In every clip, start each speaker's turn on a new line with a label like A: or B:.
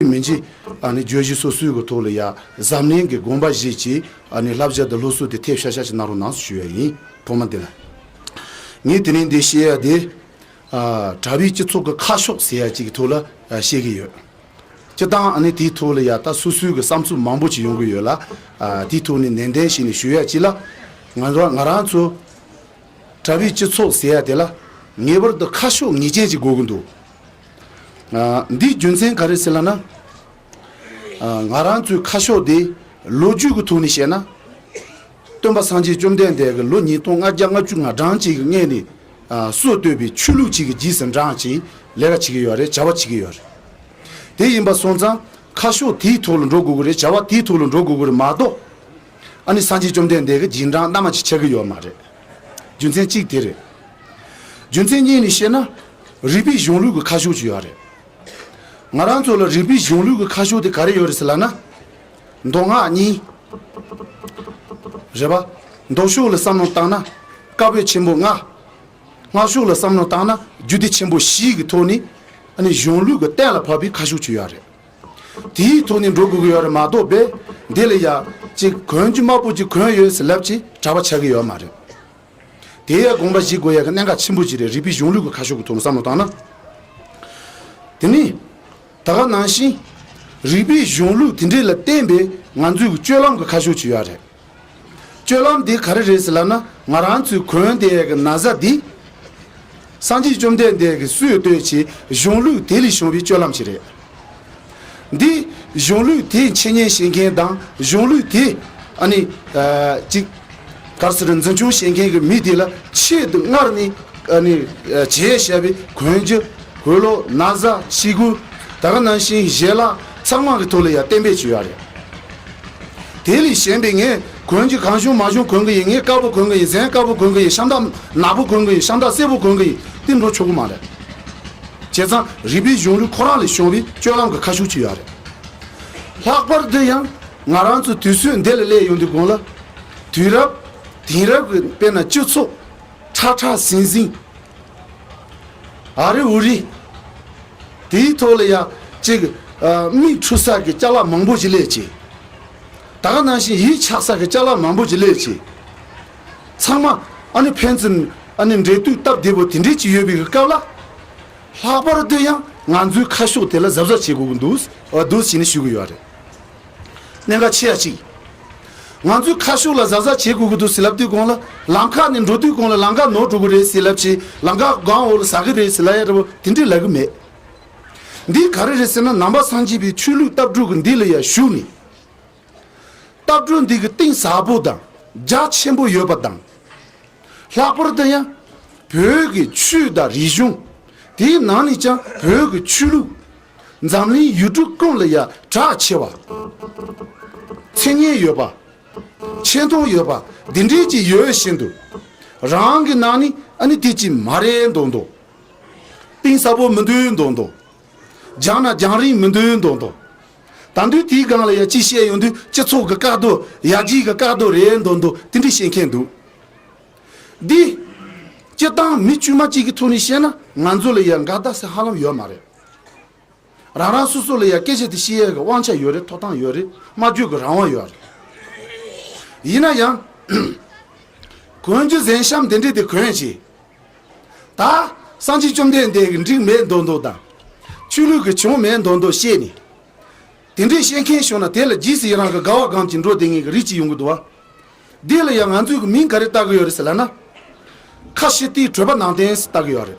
A: མིན་གྱི། བརྗོད་གཞི་སོ་སོའི་གི་ཐོག་ལ་ཡང་གཟབ་ནན་གྱི་དགོངས་པ་བཞེས་ཀྱི། བསླབ་བྱ་དང་སློབ་གསོ་དེ་ཐེབས་ཤ་ཤ་ཞིག་གནང་རོགས་གནང་ཞུ་ཡ་ཡིན་ཐོག་མ་དེ་ལ། ངས་དེ་རིང་འདི་བཤད་ཡ་དེ། གྲ་བའི་སྤྱི་ཚོགས་གི་ཁ་ཤོག་ཟེར་ཡ་གཅིག་གི་ཐོག་ལ་བཤད་གི་ཡོད། སྤྱི་བཏང་དེའི་ཐོག་ལ་ཡང་ད་སོ་སོའི་གི་བསམ་ཚུལ་མང་པོ་ཞིག་ཡོང་གི་ཡོད་ལ། དེའི་ཐོག་ནས་ནན་ཏན་ཞིག་ནས་ཞུ་ཡ་གཅིག་ལ། ང་རང་ང་རང་ཚོ། གྲ་བའི་སྤྱི་ཚོགས་ཟེར་ཡ་དེ་ལ། ངེས་པར་དུ་ཁ་ཤོག་ངེས་ཅན་ཞིག་དགོས་གི་འདུག། འདིའི་རྒྱུ་མཚན་ག་རེ་ཟེར་ལ་ན། ང་རང་ཚོའི་ཁ་ཕྱོགས་དེ་ལོ་རྒྱུས་ཀྱི་ཐོག་ནས་བཤད་ན། སྟོན་པ་སངས་རྒྱས་བཅོམ་ལྡན་འདས་ཀྱིས་ལོ་ཉིས་སྟོང་ལྔ་བརྒྱ་ལྔ་ཅུ་ང་གྲངས་གཅིག་གི་སྔས་ནས་སྲོལ་བཏོད་པའི་ཆོས་ལུགས་གཅིག་གི་རྗེས་ཟིན་གྲངས་ཅིག་ལས་ཀ་བྱེད་ཀྱི་ཡོད་རེད་བྱ་བ་བྱེད་ཀྱི་ཡོད་རེད། དེ་ཡིན་པ་སོང་ཙང་ཁ་ཕྱོགས་དེའི་ཐོག་ལ་འགྲོ་དགོས་ཀྱི་རེད་བྱ་བ་དེའི་ཐོག་ལ་འགྲོ་དགོས་ཀྱི་རེད་མ་གཏོགས། ཨ་ནི་སངས་རྒྱས་བཅོམ་ལྡན་འདས་ཀྱིས་རྗེས་འབྲང་གནའ་མ་གཅིག་ཆགས་ཀྱི་ཡོད་མ་རེད། རྒྱུ་མཚན་གཅིག་དེ་རེད། རྒྱུ་མཚན་གཉིས་ནི་བཤད་ན། རིགས་པའི་གཞུང་ལུགས་ཀྱི་ཁ་ཕྱོགས་ཅིག་ཡོད་རེད། ང་རང་ཚོ་ལ་རིགས་པའི་གཞུང་ལུགས་ཀྱི་ཁ་ཕྱོགས་དེ་ག་རེ་ཡོད་རེད་ཟེར་ལབ་ན། མདོ་སྔགས་གཉིས། རེད་པ། མདོ་ཕྱོགས་ལ་བསམ་མནོ་བཏང་ན། བཀའ་པོད་ཆེན་པོ་ལྔ། སྔགས་ཕྱོགས་ལ་བསམ་མནོ་བཏང་ན་རྒྱུད་སྡེ་ཆེན་པོ་བཞི་ཡི་ཐོག་ནས། གཞུང་ལུགས་ཀྱི་གཏན་ལ་ཕབ་པའི་ཁ་ཕྱོགས་ཅིག་ཡོད་རེད། དེའི་ཐུགས་ནི་འགྲོ་དགོས་ཀྱི་ཡོད་རེད་མ་གཏོགས་པས་འདི་ལ་ཡ། ཅིག་གོན་རྒྱུ་མ་པོ་ཅིག་གོན་ཡོད་ཟེར་ལབ་ཅིག་གྲགས་པ་ཆགས་ཀྱི་ཡོད་མ་རེད། དེ་ཡའི་དགོངས་པ་གཞིགས་དགོས་ཡ་གི་གནད་འགག་ཆེན་པོ་ཅིག་རེད་རིགས་པའི་གཞུང་ལུགས་ཀྱི་ཁ་ཤོ་གི་ཐོག་ནས་བསམ་བློ་བཏང་ན། དེ་ནི། ད་ག་ནང་བཞིན། རིགས་པའི་གཞུང་ལུགས་དེ་འདྲས་ལ་བརྟེན་པའི་ང་ཚོའི་གི་སྤྱོད་ལམ་གི་ཁ་ཤོ་ཅིག་ཡོད་རེད། སྤྱོད་ལམ་འདི་ག་རེ་རེད་ཟེར་ལབ་ན་ང་རང་ཚོའི་གོན་དེ་གི་ན་བཟའ་འདི་སངས་རྒྱས་བཅོམ་ལྡན་འདས་ཀྱི་སུས་བཏོད་ཆེ་གཞུང་ལུགས་དེ་ལས་བྱུང་བའི་སྤྱོད་ལམ་ཞིག་རེད། འདི་གཞུང་ལུགས་དེ་འཆད་ཉན་བྱེད་མཁན་དང་གཞུང་ལུགས་དེ་ནི་གཅིག་གར་སོ་རི་འཛིན་སྐྱོང་བྱེད་མཁན་གྱི་མི་དེ་ལ་ཆེད་དུ་སྔར་ནས་བྱས་བྱས་པའི་གོན་རྒྱུ་བུ་ལོ་ན་བཟའ་ཤི་གུ་ད་ག་ནང་བཞིན་བཞེས་ལ། ཚང་མང་གི་ཐུགས་ལ་ཡང་བརྟན་པའི་ཆུ་ཡང་རེད། དེ་ལས་གཞན་པའི་ངས་གོན་གྱི་གང་བྱུང་མ་བྱུང་གོན་གི་ཡིན་ངས་དཀར་པོ་གོན་གི་ཡིན་གཟན་དཀར་པོ་གོན་གི་ཡིན་ཤ་མདའ་ནག་པོ་གོན་གི་ཡིན་ཤ་མདའ་སེར་པོ་གོན་གི་ཡིན་དེ་འགྲོ་ཆོག་གི་མ་རེད། བྱས་ཙང་རིག་པའི་གཞུང་ལུགས་ཁོ་རང་ལས་བྱུང་བའི་སྤྱོད་ལམ་གྱི་ཁ་ཤུགས་ཅིག་ཡང་རེད། ལྷག་པར་དུ་ཡང་ང་རང་ཚོ་དུས་ཚོད་འདི་ལ་སླེབས་ཡོང་དུས་གོང་ལ་དུས་རབས་དེང་རབས་ཀྱི་དཔེར་ན་སྤྱི་ཚོགས་ཁྲག་ཁྲག་ཟིང་ཟིང་ཨ་རི་འུ་རི། དེའི་ཐོག་ལ་ཡང་ཅིག་མིག་འཕྲུལ་ས་གི་ལྕགས་ལ་མང་པོ་ཞིག་ལས་ཀྱིས། ད་ག་ནང་བཞིན་ཡིད་ཆགས་ས་གི་ལྕགས་ལ་མང་པོ་ཞིག་ལས་ཀྱིས། ཚང་མ་ཨ་ནི་ཕན་ཚུན་ཨ་ནི་འབྲེལ་གཏུགས་སྟབས་བདེ་པོ་དེ་འདྲས་ཀྱིས་ཡོད་པའི་སྐབས་ལ། ལྷག་པར་དུ་ཡང་ང་ཚོའི་ཁ་ཕྱོགས་དེ་ལ་གཟབ་གཟབ་བྱེད་དགོས་ཀྱི་འདུག་འདུག་ཅེས་ནས་ཞུས་ཀྱི་ཡོད་རེད། གནད་འགག་ཆེ་ཡ་གཅིག། ང་ཚོས་ཁ་ཤུགས་ལ་གཟབ་གཟབ་བྱེད་དགོས་ཀྱི་འདུག་ཟི་ལབ་དུས་གོང་ལ་ལམ་ཁ་ནས་འགྲོ་དུས་གོང་ལ་ལམ་ཁ་ནོར་འགྲོ་གི་རེད་ཟི་ལབ་ཆེ་ལམ་ཁ་སྒང་འོག་ལ་ཟག་གི་རེད་ཟི་ལ་ཡ་རེད་པོ་དེ་འདྲས་ལབ་གི་མེད། འདི་ག་རེ་རེད་ཟེར་ན་ནང་པ་སངས་རྒྱས་པའི་ཆོས་ལུགས་ལྟ་གྲུབ་ཀྱི་འདི་ལ་ཡ་ཞུགས་ནས། ལྟ་གྲུབ་འདི་གི་སྟེང་ཟབ་པོ་དང་རྒྱ་ཆེན་པོ་ཡོད་པ་དང། ལྷག་པར་དུ་ཡང་བོད་ཀྱི་ཆོས་དང་རིག་གཞུང་དེའི་ནང་ནས་ཀྱང་བོད་ཀྱི་ཆོས་ལུགས། འཛམ་གླིང་ཡུལ་གྲུ་ཀུན་ལ་ཡ་གྲགས་ཆེ་བ། མཚན་སྙན་ཡོད་པ། ཆེ་མཐོང་ཡོད་པ་འདི་འདྲས་ཀྱི་ཡོད་བཞིན་དུ། རང་གི་ནང་ནི་ཨ་ནི་དེ་ཅིག་མ་རེད་མདོག་མདོག། གཏིང་ཟབ་པོ་མི་འདུག་མདོག་མདོག། རྒྱང་ན་རྒྱང་རིང་མི་འདུག་མདོག་མདོག། ད་དུས་དེའི་སྒང་ལ་ཡ་ཅི་བཤད་ཡོང་དུས་སྤྱི་ཚོགས་ཀྱི་བཀག་རྡོ་ཡ་སྒྱིད་ཀྱི་བཀག་རྡོ་རེད་མདོག་མདོག་དེ་འདྲས་བཤད་མཁན་འདུག་འདི། སྤྱི་བཏང་མི་དཀྱུས་མ་གཅིག་གི་ཐུགས་ནས་བཤད་ན་ང་ཚོ་ལ་ཡ་འགའ་བལྟ་སའི་ཧ་ལམ་ཡོད་མ་རེད། རང་རང་སོ་སོ་ལ་ཡང་སྐད་བཤད་དེ་ཤེས་ཡོན་གྱི་དབང་ཆ་ཡོད་རེད་ཐོབ་ཐང་ཡོད་རེད་སྨྲ་བརྗོད་ཀྱི་རང་དབང་ཡོད་རེད། ཡིན་ན་ཡང། གོན་རྒྱུ་གཟན་ཤམ་དེ་འདྲས་དེ་གོན་ཡས་ཆེ། ད། སངས་རྒྱས་བཅོམ་ལྡན་འདས་ཀྱི་འགྲིག་མེད་མདོག་མདོག་དང། ཆོས་ལུགས་ཀྱི་བྱུང་མེད་མདོག་མདོག་བཤད་ནས། དེ་འདྲས་བཤད་མཁན་བྱུང་ན་དེ་ལ་རྗེས་སུ་ཡི་རང་གི་དགའ་བ་སྒམ་གྱི་འགྲོ་དེ་ངེས་ཀྱི་རིགས་གཅིག་ཡོང་གི་འདུག་བ། འདི་ལ་ཡང་ང་ཚོས་ཀྱི་མིང་ག་རེ་བཏགས་ཀྱི་ཡོད་རེད་ཟེར་ལ་ན། ཁ་ཤི་སྟེ་གྲོད་པ་ནང་བསྟན་ཟེར་བཏགས་ཀྱི་ཡོད་རེད།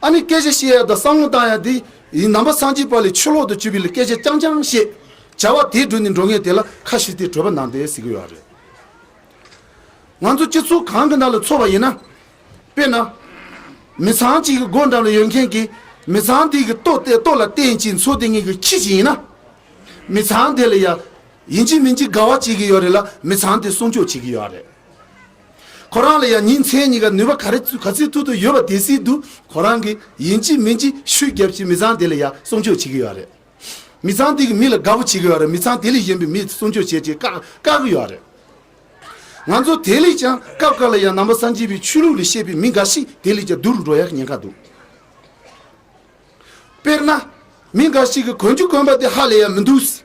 A: ཨ་ནི་སྐད་ཆ་བཤད་ཡ་དང་བསམ་བློ་བཏང་ཡ་དེ་ཡི་ནང་པ་སངས་རྒྱས་པ་ལས་ཆུ་ལོག་ཏུ་བྱུག་གི་ལ་སྐད་ཆ་རྐྱང་རྐྱང་བཤད་བྱ་བ་དེའི་འགྲོ་ནི་འགྲོ་ངེས་དེ་ལ་ཁ་ཞི་སྟེ་གྲོད་པ་ནང་བསྡད་ཟིག་གི་ཡོད་རེད། ང་ཚོ་སྤྱི་ཚོགས་གང་གི་ནང་ལ་འཚོ་བ་ཡིན་ན། དཔེར་ན། མི་ཚང་གཅིག་གི་སྒོ་འགྲམ་ལ་ཡོད་མཁན་གྱི་མི་ཚང་དེ་གི་ལྟོ་དེ་ལྟོ་ལ་བརྟེན་ཅིག་འཚོ་དེ་ངེས་ཀྱི་ཁྱི་ཞིག་ཡིན་ན། མི་ཚང་དེ་ལ་ཡ། ཡིན་གྱི་མིན་གྱི་དགའ་བ་བྱེད་གི་ཡོད་རེད་ལ་མི་ཚང་དེ་སྲུང་སྐྱོབ་བྱེད་གི་ཡོད་རེད། ཁོ་རང་ལ་ཡང་ཉིན་མཚན་གཉིས་ཀ་ནུས་པ་ག་རེ་ག་ཚོད་ཐུག་ཐུག་ཡོད་པ་དེ་སྲིད་དུ་ཁོ་རང་གིས་ཡིན་གཅིག་མིན་གཅིག་ཤུད་རྒྱབ་ཀྱིས་མི་ཚང་དེ་ལ་ཡང་སྲུང་སྐྱོབ་བྱེད་ཀྱི་ཡོད་རེད། མི་ཚང་དེ་གི་མི་ལ་དགའ་པོ་བྱེད་ཀྱི་ཡོད་རེད་མི་ཚང་དེ་ལས་གཞན་པའི་མིས་སྲུང་སྐྱོབ་བྱེད་ཅེས་བཀག་གི་ཡོད་རེད། ང་ཚོ་དེ་ལས་ཀྱང་སྐབས་འགར་ལ་ཡང་ནང་པ་སངས་རྒྱས་པའི་ཆོས་ལུགས་ལས་བཤད་པའི་མི་འགའ་ཞིག་དེ་ལས་ཀྱང་བསྡུར་རུ་འགྲོ་ཡག་ཉེན་ཁ་འདུག་དཔེར་ན། མི་འགའ་ཞིག་གིས་གོན་རྒྱུ་གོན་པ་དེ་ཧ་ལས་ཡག་མི་འདུག་སྲིད།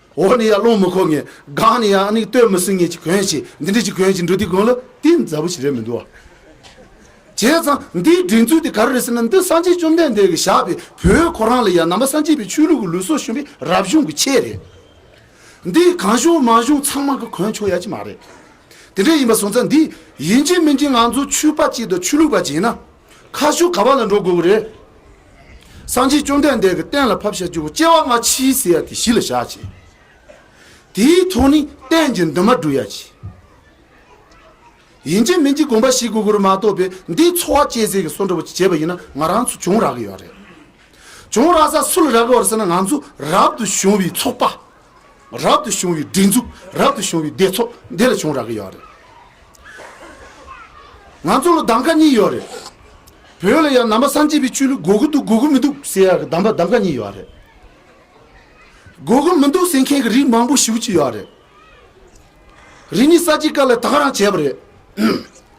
A: འོག་ནས་ཡར་སློང་མི་ཁོ་ངེས། སྒང་ནས་ཡར་མིག་ལྟོས་མི་སྲིད་ངེས་ཀྱི་གོན་ཞིག་འདི་འདྲ་ཞིག་གོན་ཞིག་འབྲུ་འདི་གོན་ལ་དེ་མཛའ་བོ་ཞིག་རེད་མི་འདུག་བ། བྱས་ཙང་འདིའི་བསྒྲིགས་ཚུལ་དེ་ག་རེ་རེད་ཟེར་ན་འདི་སངས་རྒྱས་བཅོམ་ལྡན་འདས་ཀྱི་བཞག་པའི་བུའི་ཁོ་རང་ལ་ཡང་ནང་པ་སངས་རྒྱས་པའི་ཆོས་ལུགས་ཀྱི་ལུས་སྲོག་ཤོམ་པའི་རབ་བྱུང་གི་ཆེད་རེད། འདིས་གང་བྱུང་མ་བྱུང་ཚང་མ་གི་གོན་ཆོག་ཡ་ཅི་མ་རེད། དེ་འདྲ་ཡིན་པ་སོང་ཙང་འདིས་ཡིན་གྱི་མིན་གྱི་ང་ཚོ་ཆོས་པ་གཅིག་དང་ཆོས་ལུགས་པ་གཅིག་ཡིན་ན། ཁ་ཤུ་ག་བ་ལ་འགྲོ་དགོས་པ་རེད། སངས་རྒྱས་བཅོམ་ལྡན་འདས་ཀྱི་བསྟན་ལ་ཕབ་བྱ་རྒྱུ་བ་སྐྱེ་བ་སྔ་ཕྱིའི་ཟེར་ཡ་དེ་གཞི་ལ་བཞག་བྱས། དེའི་ཐོག་ནས་བསྟན་གྱི་འདུན་མ་བསྒྲུབ་ཡ་བྱས། ཡིན་གྱི་མིན་གྱི་དགོངས་པ་ཞིག་དགོས་པར་མ་རྟོགས་པས་འདིའི་འཚོ་བ་སྐྱེས་ཟེར་གྱི་སོ་འདྲ་བ་ཅིག་བྱས་པ་ཡིན་ན་ང་རང་ཚོ་བྱུང་རག་གི་ཡོད་རེད། བྱུང་རག་ས་སུ་ལ་རག་གི་བར་ཟེར་ན་ང་ཚོ་རབ་ཏུ་བྱུང་བའི་ཚོགས་པ། རབ་ཏུ་བྱུང་བའི་སྒྲིག་འཛུགས་རབ་ཏུ་བྱུང་བའི་སྡེ་ཚོགས་འདི་ལ་བྱུང་རག་གི་ཡོད་རེད། ང་ཚོ་ལ་གདམ་ཀ་གཉིས་ཡོད་རེད། བོད་ལ་ཡང་ནང་པ་སངས་རྒྱས་པའི་ཆོས་ལུགས་དགོས་ཀྱི་འདུག་དགོས་ཀྱི་མི་འདུག་ཟེར་ཡག་གི་གདམ་པ་གདམ་ཀ་གཉིས་ཡོད་རེད། དགོས་ཀྱི་མི་འདུག་ཟེར་མཁན་གྱི་རིགས་མང་པོ་ཞུགས་ཀྱི་ཡོད་རེད། རིགས་གཉིས་གསར་བརྗེ་སྐབས་ལ་དག་རང་བྱས་པ་རེད།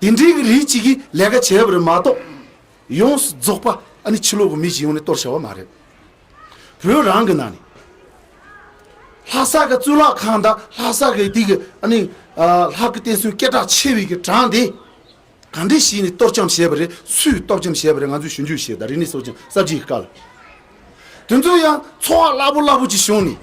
A: དེ་འདྲའི་གི་རིགས་གཅིག་གིས་ལས་ཀ་བྱས་པ་རེད་མ་གཏོགས། ཡོངས་སུ་རྫོགས་པ་ཨ་ནི་ཕྱི་ལོག་གི་མི་གཅིག་ཡོང་ནས་གཏོར་བྱ་བ་མ་རེད། བོད་རང་གི་ནང་ནས། ལྷ་ས་གི་གཙུག་ལག་ཁང་དང་ལྷ་ས་གི་དེ་གི་ཨ་ནི། ལྷ་ཀི་བསྟན་སྲུང་སྐད་གྲགས་ཆེ་བའི་གི་གྲངས་དེ། ག་འདྲས་ཞིག་ནས་གཏོར་བཅམ་བྱས་པ་རེད་སུས་གཏོར་བཅམ་བྱས་པ་རེད་ང་ཚོས་ཞུ་འཇུག་བྱེད་ད་རེ་ནས་གསོ་བཅམ་གསབ་བྱེད་ཀ་ལ། དེ་ཚོ་ཡང་འཚོ་བ་སླ་པོ་སླ་པོ་ཅིག་བྱུང་ནས།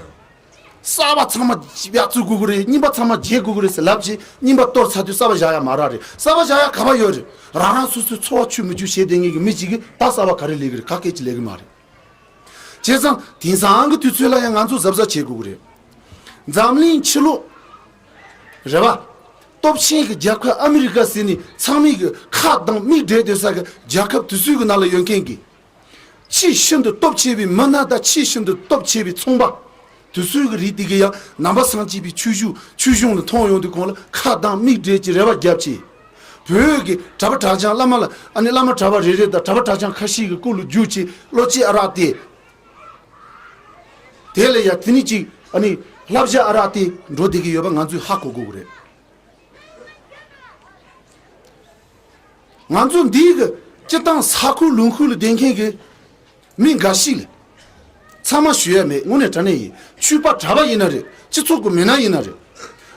A: གསར་བ་ཚང་མ་དབྱར་རྩི་དགོས་ཀྱི་རེད་རྙིང་པ་ཚང་མ་རྗེས་དགོས་ཀྱི་རེད་ཟེར་ལབ་རྗེས་རྙིང་པ་གཏོར་ཚར་དུས་གསར་བ་བཞག་ཡ་མ་རག་རེད་གསར་བ་བཞག་ཡ་ག་པ་ཡོད་རེད་རང་རང་སོ་སོའི་འཚོ་བ་ཆུད་མི་ཆུད་ཤེས་ལྡན་ངེས་ཀྱི་མི་ཞིག་གིས་ད་གསར་བ་ག་རེ་ལས་ཀྱི་རེད་ག་སྐད་ཅིག་ལས་ཀྱི་མ་རེད། བྱས་ཙང་དེང་སང་གི་དུས་ཚོད་ལ་ཡང་ང་ཚོ་གཟབ་གཟབ་བྱེད་དགོས་ཀྱི་རེད། འཛམ་གླིང་ཕྱི་ལོགས་རེད་པ། སྟོབས་ཆེན་གྱི་རྒྱལ་ཁབ་ཨ་མི་རི་ཀ་ཟེར་ནི་ཚང་མིག་གི་ཁ་གདངས་མིག་བགྲད་སྡོད་ས་གི་རྒྱལ་ཁབ་དུས་ཚོད་ཀྱི་ནང་ལ་ཡོད་མཁན་གྱི་ཆེས་ཤིན་ཏུ་སྟོབས་ཆེ་བའི་མི་སྣ་དང་ཆེས་ཤིན་ཏུ་སྟོབས་ཆེ་བའི་ཚོང་པ། དུས་ཚོད་ཀྱི་རིགས་དེ་གའི་ཡང་ན་པ་སངས་སྐྱེས་པའི་ཆོས་བཞུགས་ཆོས་གཞུང་ལ་མཐོང་ཡོང་དུས་ཁོང་ལ་ཁ་གདངས་མིག་བགྲད་ཀྱི་རེ་བ་བརྒྱབ་ཅིང། བོད་ཀྱི་གྲྭ་པ་གྲྭ་ཆང་བླ་མ་ལ་ཨ་ནི་བླ་མ་གྲྭ་པ་རེ་རེ་དང་གྲྭ་པ་གྲྭ་ཆང་ཁ་ཤས་ཀྱི་སྐུ་ལ་རྒྱུག་ཅིང་བློ་སྐྱེད་ཨ་རག་སྟེ། དེ་ལ་ཡང་དེ་ནི་གཅིག་ཨ་ནི་བསླབ་བྱ་ཨ་རག་སྟེ་འགྲོ་བསྡད་ཀྱི་ཡོད་པ་ང་ཚོས་ཧ་གོ་དགོས་ཀྱི་རེད། ང་ཚོ་འདིའི་གི་སྤྱི་བཏང་ས་ཁུལ་ལུང་ཁུལ་ལ་སྡད་མཁན་གི་མི་འགའ་ཞིག་ལ་ཚང་མ་ཞུ་ཡ་མེད་དངོས་གནས་དྲ་གནས་ཡིན་ཆུས་པ་དྲ་པ་ཡིན་ན་རེད་སྤྱི་ཚོགས་གི་མི་སྣ་ཡིན་ན་རེད་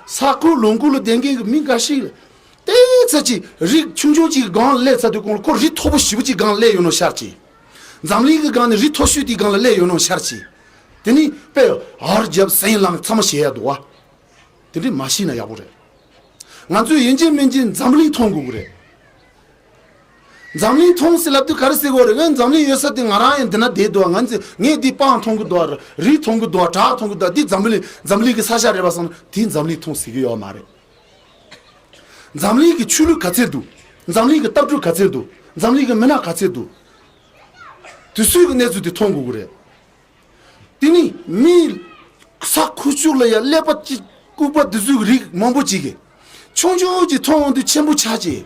A: ས་ཁུལ་ལུང་ཁུལ་ལ་སྡད་མཁན་གི་མི་འགའ་ཞིག་ལ་དེ་ཚད་ཅིག་རིགས་ཆུང་ཆུང་ཅིག་གི་སྒང་ལ་སླད་ས་དེ་གོང་ལ་ཁོ་རི་མཐོ་པོ་བཞི་པོ་ཅིག་སྒང་ལ་སླད་ཡོད་ནོ་ཤར་གྱི་འཛམ་གླིང་གི་སྒང་ནས་རི་མཐོ་ཤོས་དེའི་སྒང་ལ་སླད་ཡོད་ནོ་ཤར་གྱི་དེ་ནི་དཔེ་ཨར་རྒྱབ་སེང་གླང་ཚང་མ་བྱེད་ཡ་འདུག་བ། དེ་འདྲས་མ་ཤེས་ན་ཡག་པོ་རེད། ང་ཚོས་དབྱིན་ཇི་སྨན་ཇི་འཛམ་གླིང་མཐོང་དགོས་ཀྱི་རེད། འཛམ་གླིང་མཐོང་སྲིད་ལབ་དུས་ག་རེ་སྲིད་གོ་རེད་ཨེ་འཛམ་གླིང་ཡོད་ས་དེ་ང་རང་ཡང་འདི་ན་བསྡད་འདུག་ང་ཚོས་ངས་འདི་སྤང་མཐོང་གི་འདུག་རི་མཐོང་གི་འདུག་བྲག་མཐོང་གི་འདུག་འདི་འཛམ་གླིང་འཛམ་གླིང་གི་ས་ཞག་རེད་པ་བསམ་ན་དེ་འཛམ་གླིང་མཐོང་སྲིད་ཀྱི་ཡོད་མ་རེད། འཛམ་གླིང་གི་ཆོས་ལུགས་ག་ཚད་འདུག་འཛམ་གླིང་གི་ལྟ་གྲུབ་ག་ཚད་འདུག་འཛམ་གླིང་གི་མི་ནག་ག་ཚད་འདུག་དེ་སུས་ཀྱི་གནས་ཚུལ་དེ་མཐོང་དགོས་ཀྱི་རེད། དེ་ནི་མིའི་ས་ཁུ་བྱུག་ལ་ཡང་ཀླད་པ་གཅིག་ལྐུགས་པ་འདི་ཚོའི་རིགས་མང་པོ་ཅིག་གིས་ཆུང་ཆུང་གིས་མཐོང་འོང་དུས་ཆེན་པོ་ཆགས་ཀྱིས་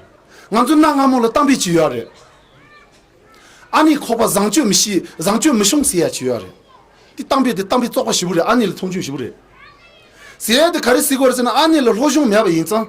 A: ང་ཚོ་གནའ་སྔ་མོ་ལ་གཏམ་དཔེ་བྱས་ཡོད་རེད། ཨ་ནི་ཁོག་པ་བཟང་སྤྱོད་མི་ཤེས་བཟང་སྤྱོད་མི་ཤོང་ཟེར་ཡ་བྱས་ཡོད་རེད། དེ་གཏམ་དཔེ་དེ་གཏམ་དཔེ་བཙོག་པ་བཞི་བོ་རེད་ཨ་ནི་ལ་མཐོང་ཆུང་བཞི་བོ་རེད། ཟེར་ཡ་དེ་ག་རེ་གཟིགས་དགོས་རེད་ཟེར་ན་ཨ་ནི་ལ་ལྷོ་གཞུང་མེད་པ་ཡིན་ཙང།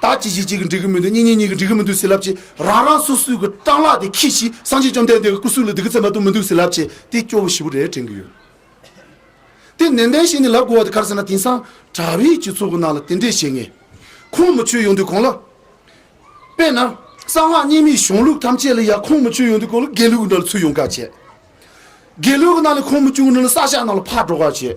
A: ད་གཅིག་གཅིག་གཅིག་གིས་འགྲིག་གི་མི་འདུག་གཉིས་གཉིས་གཉིས་གིས་འགྲིག་གི་མི་འདུག་ཟེར་ལབ་ཀྱི། རང་རང་སོ་སོའི་གི་སྤྲང་ལག་དེ་ཁྱི་བཞིན་སངས་རྒྱས་བཅོམ་ལྡན་འདས་ཀྱི་སྐུ་གཟུགས་ལ་སྡིག་གི་ཚད་མ་གཏོགས་མི་འདུག་ཟེར་ལབ་ཀྱི་དེ་སྐྱོ་བོ་བཞི་བོ་རེད་དྲན་གི་ཡོད། དེ་ནན་ཏན་བྱས་ནས་ལབ་དགོས་བ་དེ་ག་རེ་ཟེར་ན་དེང་སང་གྲྭ་བའི་སྤྱི་ཚོགས་གི་ནང་ལ་དེ་འདྲས་བྱེད་ངེས། ཁོང་མི་ཆོས་ཡོང་དུས་གང་ལ། དཔེར་ན། གསང་སྔགས་རྙིང་མའི་གཞུང་ལུགས་ཐམས་ཅད་ལ་ཡང་ཁོང་མི་ཆོས་ཡོང་དུས་གང་ལ་དགེ་ལུགས་གི་འདྲ་ལ་ཚུར་ཡོང་ག་བྱེད། དགེ་ལུགས་གི་ནང་ལས་ཁོང་མི་ཆོས་གི་འདྲ་ལ་ས་ཞག་ནང་ལ་ཕར་འགྲོ་ག་བྱེད།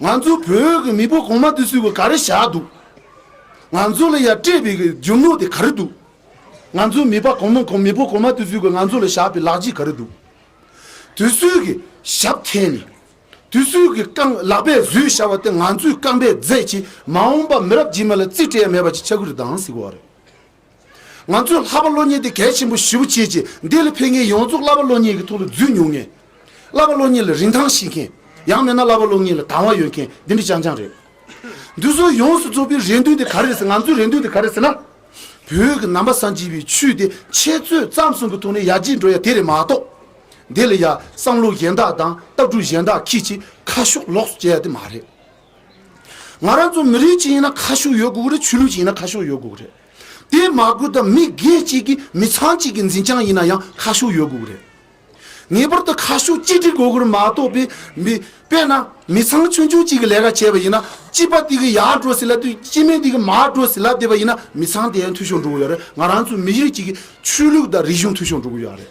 A: ང་ཚོ་བོད་ཀྱི་མི་བུ་གོང་མ་དུས་ཚོད་ཀྱི་ག་རེ་བཞག་འདུག་ང་ཚོ་ལ་ཡ་སྤྲད་པའི་རྒྱུ་ནོར་དེ་ག་རེ་འདུག་ང་ཚོའི་མི་བ་གོང་མ་གོང་མི་བུ་གོང་མ་དུས་ཚོད་ཀྱི་ང་ཚོ་ལ་བཞག་པའི་ལག་རྗེས་ག་རེ་འདུག་དུས་ཚོད་ཀྱི་ཞབས་འཐེན་ནས་དུས་ཚོད་ཀྱི་རྐང་ལག་པས་བཟོས་བཞག་པ་དེ་ང་ཚོའི་རྐང་པས་རྫས་ཀྱིས་མ་འོངས་པ་མི་རབས་རྗེས་མ་ལ་རྩིས་སྤྲད་ཡ་མེད་པ་ཀྱི་ཆ་ཁུ་རེ་ལྡང་སྲིད་གོ་རེ་ང་ཚོས་ལྷག་པར་བློ་ཉེས་དེ་གལ་ཆེན་པོ་ཞིབ་བྱས་རྗེས་འདི་ལ་ཕེབས་མཁན་ཡོངས་རྫོགས་བསླབ་པ་བློ་ཉེས་ཀྱི་ཐུགས་ལ་འཛུད་མྱོང་ངེས། བསླབ་པ་བློ་ཉེས་ལ་རིན་ཐང་ཤེས་མཁན། ཡང་མིན་ན་བསླབ་པ་བློ་ཉེས་ལ་དང་བ་ཡོད་མཁན་འདི་འདྲ་རྐྱང་རྐྱང་རེད། འདི་ཚོ་ཡོངས་སུ་རྫོགས་པའི་རེ་འདུན་དེ་ག་རེ་རེད་ཟེར་ང་ཚོའི་རེ་འདུན་དེ་ག་རེད་ཟེར་ན། བོད་ཀྱི་ནང་པ་སངས་རྒྱས་པའི་ཆོས་དེ་འཆད་རྩོད་བརྩམས་སྲུང་གི་ཐོག་ནས་ཡར་རྒྱས་འགྲོ་ཡ་དེ་རེད་མ་གཏོགས། འདི་ལ་ཡང་བསམ་བློ་གཞན་དག་དང་ལྟ་གྲུབ་གཞན་དག་ཁྱེད་ཀྱིས་ཁ་ཤོག་ལོགས་སུ་བྱས་ཡ་དེ་མ་རེད། ང་རང་ཚོ་མི་རིགས་གཅིག་ཡིན་ན་ཁ་ཤུགས་ཡོད་དགོས་རེད་ཆོས་ལུགས་གཅིག་ཡིན་ན་ཁ་ཤུགས་ཡོད་དགོས་རེད། དེ་མ་དགོས་ད་མི་སྒེར་གཅིག་གི་མི་ཚང་གཅིག་གི་འཛིན་བྱང་ཡིན་ན་ཡང་ཁ་ཤུགས་ཡོད་དགོས་རེད། ངེས་པར་དུ་ཁ་ཤུགས་གཅིག་སྒྲིལ་དགོས་རེད་མ་གཏོགས་པའི་མི་དཔེར་ན་མི་ཚང་ཆུང་ཆུང་གཅིག་གི་ལས་ཀ་བྱས་པ་ཡིན་ན་གཅིག་པ་དེ་གི་ཡར་འགྲོ་ཟིན་ལ་དུས་གཅིག་མའི་དེ་གི་མར་འགྲོ་ཟིན་ལ་བསྡད་པ་ཡིན་ན་མི་ཚང་དེ་ཡང་འཐུས་ཤོར་འགྲོ་གི་ཡོད་རེད་ང་རང་ཚོའི་མི་རིགས་གཅིག་གི་ཆོས་ལུགས་དང་རིག་གཞུང་འཐུས་ཤོར་འགྲོ་གི་ཡོད་རེད།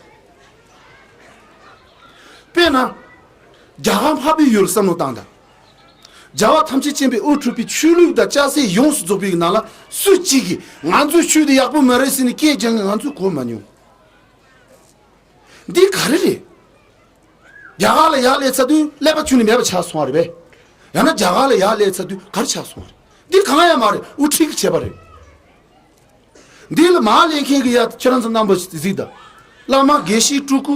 A: དཔེར་ན་རྒྱ་གར་འཕགས་པའི་ཡུལ་བསམ་བློ་བཏང་ད། བྱ་བ་ཐམས་ཅད་ཅན་པའི་དབུ་ཁྲོད་པའི་ཆོས་ལུགས་དང་སྐྱ་སེར་ཡོངས་སུ་རྫོགས་པའི་ནང་ལ་སུ་གཅིག་གིས་ང་ཚོའི་ཆོས་འདི་ཡག་པོ་མ་རེད་ཟེར་ནས་སྐད་རྒྱག་ངེས་ང་ཚོས་གོ་མ་མྱོང། འདི་ག་རེ་རེད། རྒྱ་གར་ལ་ཡར་སླེབས་ཚར་དུས་ཀླད་པ་ཆུང་ནས་མེད་པ་ཆགས་སོང་བ་རེད་པས། ཡང་ན་རྒྱ་གར་ལ་ཡར་སླེབས་ཚར་དུས་གར་ཆགས་སོང་བ་རེད། འདི་གང་ཡང་མ་རེད་དབུ་ཁྲིད་ཀྱིས་བྱས་པ་རེད། འདི་ལ་མ་གླས་མཁན་གྱི་ཡ་ཁྱེད་རང་ཚོ་རྣམ་པ་གཟིགས་དང། བླ་མ་དགེ་བཤེས་སྤྲུལ་སྐུ།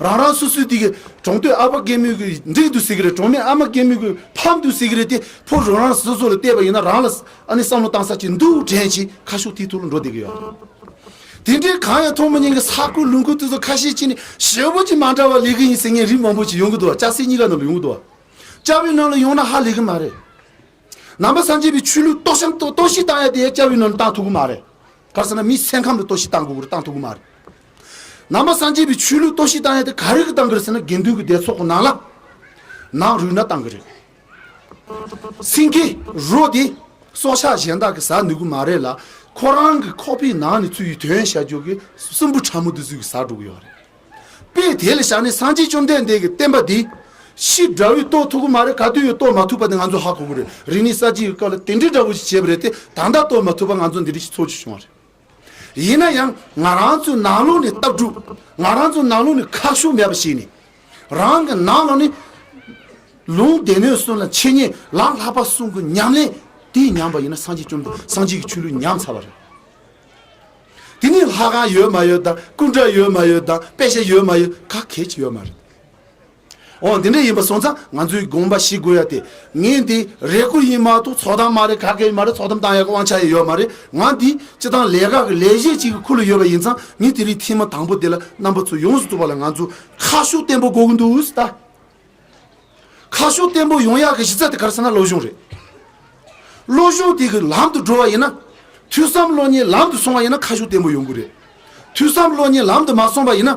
A: རང་རང་སོ་སོའི་དེ་གི་གྲོང་སྟོད་ཨ་ཕ་སྐལ་མོས་གི་འགྲིག་འདུག་ཟེར་གི་རེད་གྲོང་མི་ཨ་མ་སྐལ་མོས་གི་ཕམ་འདུག་ཟེར་གི་རེད་དེ་ཕོ་རོག་རང་སོ་སོ་ལ་བལྟས་པ་ཡིན་ན་རང་ལ་ཨ་ནི་བསམ་བློ་བཏང་ས་ཅིག་འདུག་དྲན་ཅིག་ཁ་ཤུགས་ཐིག་ཐུག་ལ་འགྲོ་བསྡད་གི་ཡོད་རེད། དེ་འདྲའི་གང་ཡང་མཐོང་མ་མྱོང་གི་ས་ཁུལ་ལུང་ཁུལ་དེ་ཚོ་ཁ་ཤས་ཅིག་ནི་ཞེ་བོ་ཅིག་མ་འདྲ་བ་ལས་གི་ཡིན་ཟེར་མཁན་རིགས་མང་པོ་ཅིག་ཡོང་གི་འདུག་ལྕགས་སེར་གཉིས་ཀ་ནང་ལ་ཡོང་གི་འདུག་ལྕགས་བུའི་ནང་ལ་ཡོང་ན་ཧ་ལས་གི་མ་རེད། ནང་པ་སངས་རྒྱས་པའི་ཆོས་ལུགས་གཏོགས་ཤམ་གཏོགས་གཏོགས་གཤིས་བཏང་ཡ་དེ་ཡང་ལྕགས་བུའི་ནང་ལ་བཏང་ཐུབ་གི་མ་རེད། ག་རེ་ཟེར་ན་མིའི་སེམས་ཁམས་ལ་གཏོགས་གཤིས་བཏང་དགོས་གི་རེད་བཏང་ཐུབ་གི་མ་རེད། ནང་པ་སངས་རྒྱས་པའི་ཆོས་ལུགས་གཏོར་བཤིག་བཏང་ཡ་དེ་ག་རིགས་ཀྱི་བཏང་གི་རེད་ཟེར་ན་དགེ་འདུན་གྱི་སྡེ་ཚོགས་ཀྱི་ནང་ལ་ནང་རུལ་ན་བཏང་གི་རེད། སེང་གེ་རུ་དེ་སྲོག་ཆགས་གཞན་དག་གི་ཟ་ནུས་གི་མ་རེད་ལ་ཁོ་རང་གི་ཁོག་པའི་ནང་ནས་ཚུར་ཡི་དོན་བྱ་རྒྱུ་གི་སྲིན་བུ་ཕྲ་མོ་དེ་ཚུར་གི་ཟ་འགྲོ་གི་ཡོད་རེད། དཔེ་དེ་ལ་བཞག་ནས་སངས་རྒྱས་བཅོམ་ལྡན་འདས་ཀྱི་བསྟན་པ་འདི་ཕྱི་དགྲ་བོས་གཏོར་ཐུབ་གི་མ་རེད་ག་དུས་ཡོད་གཏོར་མ་ཐུབ་པ་དེ་ང་ཚོས་ཧ་གོ་གི་རེད་རིག་གནས་གསར་བརྗེ་ཡི་སྐབས་ལ་དེ་འདྲའི་དགྲ་བོ་ཞིག་བྱས་པ་རེད་དེ་ད་ལྟ་གཏོར་མ་ཐུབ་པ་ང་ཚོ་འདི་འདྲའི་ཞིག་འཚོ་བཅུད་བྱུང་བ་རེད། ཡིན་ན་ཡང་ང་རང་ཚོའི་ནང་ལོགས་ནས་ལྟ་གྲུབ་ང་རང་ཚོའི་ནང་ལོགས་ནས་ཁག་ཞུགས་མེད་པ་ཞིག་ནི། རང་གི་ནང་ལོགས་ནས་ལུང་བསྟན་སྣོད་བསོད་ལ་འཆད་ཉན་ལ་ལྷག་པ་གསུང་གི་ཉམས་ལེན་དེ་ཉམས་པ་ཡིན་ན་སངས་རྒྱས་བཅོམ་ལྡན་སངས་རྒྱས་ཀྱི་ཆོས་ལུགས་ཉམས་ཚར་བ་རེད། དེ་ནི་ལྷ་ཁང་ཡོད་མ་ཡོད་དང་སྐུ་འདྲ་ཡོད་མ་ཡོད་དང་དཔེ་ཆ་ཡོད་མ་ཡོད་ཁག་གལ་ཆེ་ཡོད་མ་རེད། འོ་དེ་འདྲ་ཡིན་པ་སོང་ཙང་ང་ཚོའི་དགོངས་པ་ཞིག་དགོས་ཡ་དེ། ངས་འདི་རེ་སྐུར་ཡིན་མ་གཏོགས་ཚོགས་དང་མ་རེད་ག་གེ་མ་རེད་ཚོགས་དམ་བཏང་ཡ་དབང་ཆ་ཡ་ཡོད་མ་རེད་ང་འདི་སྤྱི་དང་ལས་ཀ་གི་ལས་གཞས་གཅིག་གི་ཁུར་ལ་ཡོད་པ་ཡིན་ཙང་མི་དེ་རིགས་ཐིང་མ་དང་པོ་དེ་ལ་རྣམ་པ་ཚོ་ཡོངས་སུ་བཙུགས་པ་ལ་ང་ཚོ་ཁ་ཤུགས་བརྟན་པོ་དགོས་གི་འདུག་ད། ཁ་ཤུགས་བརྟན་པོ་ཡོང་ཡ་གི་གཞི་རྩ་དེ་ག་རེ་ཟེར་ན་བློ་གཞུང་རེད། བློ་གཞུང་དེ་གི་ལམ་དུ་འགྲོ་བ་ཡིན་ན། ཐོས་བསམ་བློ་ཉེས་ལམ་དུ་སོང་བ་ཡིན་ན་ཁ་ཤུགས་བརྟན་པོ་ཡོང་གི་རེད། ཐོས་བསམ་བློ་ཉེས་ལམ་དུ་མ་སོང་པ་ཡིན་ན།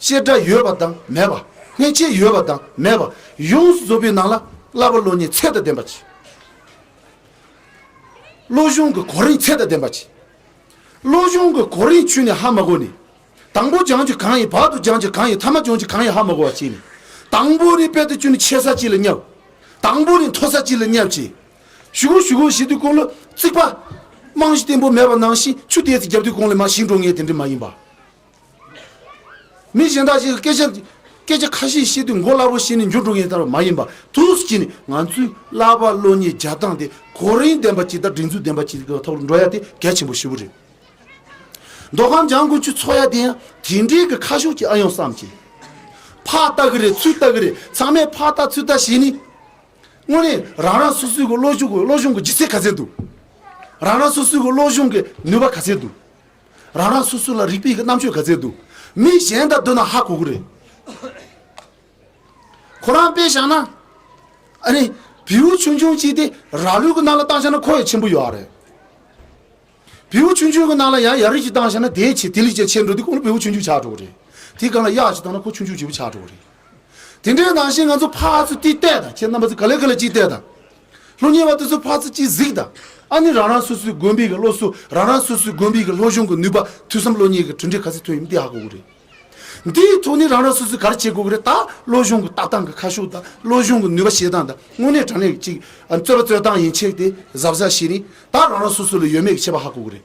A: བཤད་གྲྭ་ཡོད་པ་དང་མེད་པ། གནས་ཆས་ཡོད་པ་དང་མེད་པ། ཡོངས་སུ་རྫོགས་པའི་ནང་ལ་བསླབ་པ་བློ་ཉིད་ཚད་དང་ལྡན་པ་གྱིས། བློ་གཞུང་གི་གོ་རིམས་ཚད་དང་ལྡན་པ་གྱིས། བློ་གཞུང་གི་གོ་རིམས་ཆུད་ནས་ཧ་མ་གོ་ནས། དང་པོ་སྦྱང་གྱི་གང་ཡིན་བར་དུ་སྦྱང་གྱི་གང་ཡིན་ཐ་མ་སྦྱོང་གྱི་གང་ཡིན་ཧ་མ་གོ་བར་བྱས་ནས། དང་པོ་ནི་དཔལ་དུ་གྱུར་ནས་ཆེ་ས་གཅིག་ལ་བསྙབ། དང་པོ་ནི་མཐོ་ས་གཅིག་ལ་བསྙབ་ཅེས། ཞུ་གུ་ཞུ་གུ་བཞི་དུས་གོང་ལ་བརྩིགས་པ། རྨང་གཞི་བརྟན་པོ་མེད་པ་ནང་བཞིན་ཆུ་དེ་ཚེ་རྒྱབ་དུས་གོང་ལས་མ་ཞིག་འགྲོ་ངེས་དེ་འདྲ་མ་ཡིན་པ། མི་གཞན་དག་ཅིག་གིས་སྐད་ཆ་སྐད་ཆ་ཁ་ཤས་བཤད་དུས་མགོ་སླ་པོ་ཞིག་ནི་འགྱུར་འགྲོ་གིན་ལྟར་བ་མ་ཡིན་པར་དུས་སུ་ཅིག་ནས་ང་ཚོས་བསླབ་པ་བློ་ཉེས་རྒྱ་བཏང་སྟེ་གོ་རིམ་ལྡན་པ་ཅིག་དང་སྒྲིག་འཛུགས་ལྡན་པ་ཅིག་གི་ཐོག་ཏུ་འགྲོ་ཡ་དེ་གལ་ཆེན་པོ་ཞེ་པོ་རེད། མདོ་ཁམས་འཇང་དགུན་ཆུ་ཚོགས་ཡ་དེ་ཡང་དེ་འདྲའི་གི་ཁ་ཤོག་ཅིག་ཨ་ཡོང་བསམ་གྱིན་ཕག་ལྟ་གི་རེད་ཚུལ་ལྟ་གི་རེད་ཚང་མས་ཕག་ལྟ་ཚུལ་ལྟ་བྱས་ནས། དངོས་ནས་རང་རང་སོ་སོའི་གི་བློ་གཞུང་གི་བློ་གཞུང་གི་ལྗིད་ཚད་ག་ཚད་འདུག་རང་རང་སོ་སོའི་གི་བློ་གཞུང་གི་ནུས་པ་ག་ཚད་འདུག། རང་རང་སོ་སོ་ལ་རིག་པའི་རྣམ་དཔྱོད་ག་ཚད་འདུག་མི་གཞན་དང་བསྡུར་ན་ཧ་གོ་གི་རེད། ཁོ་རང་དཔེ་བཞག་ན་ཨ་རེ། བེའུ་ཆུང་ཆུང་གཅིག་དེ་ར་ལུག་གི་ནང་ལ་བཏང་བཞག་ན་ཁོ་ཡང་ཆེན་པོ་ཡོད་རེད། བེའུ་ཆུང་ཆུང་གི་ནང་ལ་ཡང་ཡ་རིགས་ཅིག་བཏང་བཞག་ན་དེས་ཆེ་དེ་ལས་ཀྱང་ཆེར་འགྲོ་དེ་ཁོང་ལ་བེའུ་ཆུང་ཆུང་ཆགས་འགྲོ་གི་རེད། དེ་གང་ལ་གཡག་ཅིག་བཏང་ན་ཁོ་ཆུང་ཆུང་ཆེན་པོ་ཆགས་འགྲོ་གི་རེད། དེ་འདྲའི་ནང་བཞིན་ང་ཚོ་ཕ་ཚོ་དེ་ལྟས་དང་ཁྱེད་རྣམ་པ་ཚོ་ག་ལེ་ག་ལེ་ཅིག་ལྟས་དང། ལྷོ་ཉེ་བ་དེ་ཚོ་ཕག་ཚ་སྐྱིད་གཟིགས་དང་ཨ་ནི་རང་རང་སོ་སོའི་དགོན་པའི་གི་བློ་གསོ་རང་རང་སོ་སོའི་དགོན་པའི་གི་ལྷོ་གཞུང་གི་ནུས་པ་ཐོས་སམ་བློ་ཉེས་ཀྱི་གྲུབ་འབྲས་ག་ཚད་ཐོན་ཡིན་དེ་ཧ་གོ་གི་རེད། འདིའི་ཐོག་ནས་རང་རང་སོ་སོས་ག་རེ་བྱེད་དགོས་ཀྱི་རེད་ད་བློ་གཞུང་གི་ལྟ་སྟངས་ཀྱི་ཁ་ཤུགས་དང་བློ་གཞུང་གི་ནུས་པ་བཤད་སྟངས་དང་དངོས་གནས་དྲང་གནས་ཅིག་རྩོད་པ་རྩོད་སྟངས་ཡིན་ཆེད་དེ་གཟབ་གཟབ་བྱེད་རིང་ད་རང་རང་སོ་སོ་ལ་ཡོད་མེད་ཀྱི་ཆད་པ་ཧ་གོ་གི་རེད།